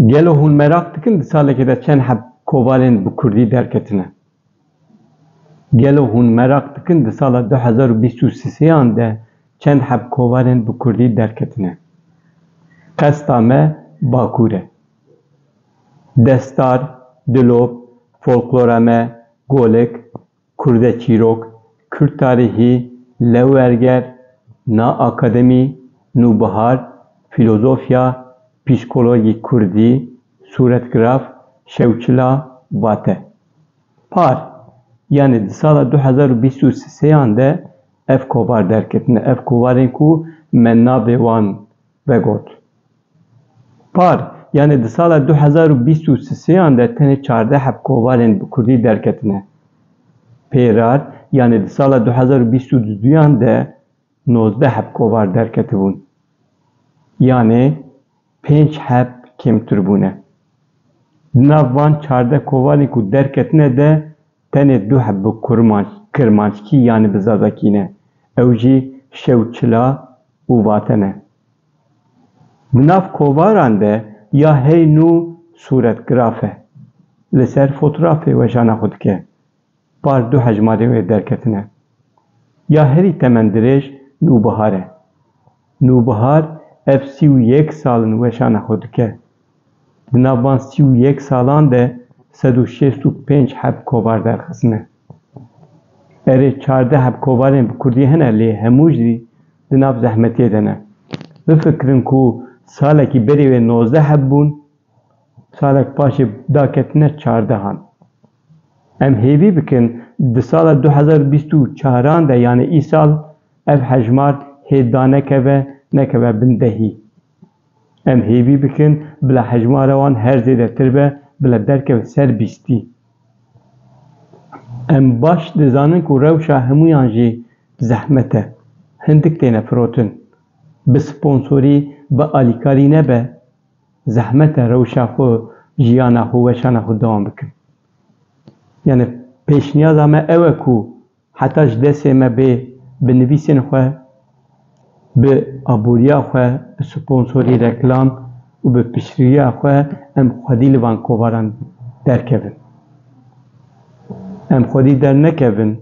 Gelo hûn merak dikin di salekê de çend heb kovalên bi kurdî derketine? Gelo hûn merak dikin di sala du hezar û bîst û sêan de çend heb kovalên bi kurdî derketine? Qesta me Bakur e. Destar, Dilop, Folklora me, Golik, Kurde çîrok, Kurd tarîhî, Lewberger, Na akademî, Nûbihar, Fîlozofya, Psîkologî Kurdî, Sûretgiraf, Şewçila, Vate. Par, yanî di sala du hezar û bîst û sê yan de ev kovar derketine. Ev kovarên ku me navê wan vegot. Par, yanê di sala du hezar û bîst û sisêan de tenê çardeh heb kovalên bi kurdî derketine. Pêrar, yanê di sala du hezar û bîst û du duyan de nozdeh heb kovar derketibûn. Yanê pênc heb kêmtir bûne. Di nav van çardeh kovalên ku derketine de Tenê du heb bi kurmanc, kirmanckî yanî bi zazakî ne. Ew jî şew çila û vate ne. Di nav kovaran de ya hey nû sûretgraf e. Li ser fotrafê wejana xwe dike. Par du hejmarên wê derketine. Ya herî temendirêj Nûbihar e. Nûbihar ev sî û yek sal in wejana xwe dike. Di nav van sî û yek salan de sed û şêst û pênc heb kovar derxisine. Erê çardeh heb kovarên bi kurdî hene lê hemû jî di nav zehmetiyê de ne. Bifikirin ku salekî berê wê nozdeh heb bûn, salek paşê daketine çardehan. Em hêvî bikin di sala du hezar û bîst û çaran de yanê îsal ev hejmar hê danekeve nekeve bin dehî. Em hêvî bikin bila hejmara wan her zêdetir be, bila derkevin ser bîstî. Em baş dizanin ku rewşa hemûyan jî zehmet e. Hindik têne firotin. Bi sponsorî, bi alîkarî nebe, zehmet e rewşa xwe, jiyana xwe, weşana xwe dewam bikin. Yanî pêşniyaza me ew e ku Heta ji destê me bê bi nivîsên xwe, bi aboriya xwe, bi sponsorî, reklam û bi piştgiriya xwe em xwedî li van kovaran derkevin. Em xwedî dernekevin,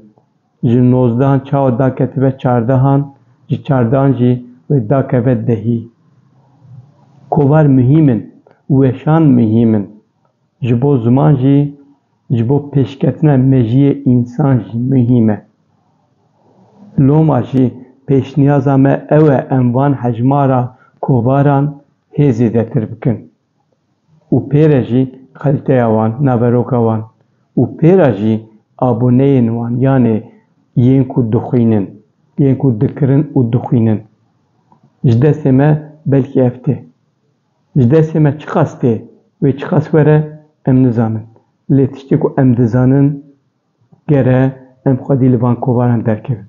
ji nozdehan çawa daketibe çardehan, ji çardehan jî wê dakeve dehî. Kovar muhîm in, weşan muhîm in. Ji bo ziman jî ji bo pêşketina mejiyê însan jî muhîm e. Loma jî pêşniyaza me ew e em van hejmara kovaran hê zêdetir bikin û pê re jî kalîteya wan, naveroka wan û pê re jî aboneyên wan yanê yên ku dixwînin, yên ku dikirin û dixwînin. Ji destê me belkî ev tê. Ji destê me çiqas tê, wê çiqas were em nizanin. Lê tiştê ku em dizanin ger e em xwedî li van kovaran derkevin.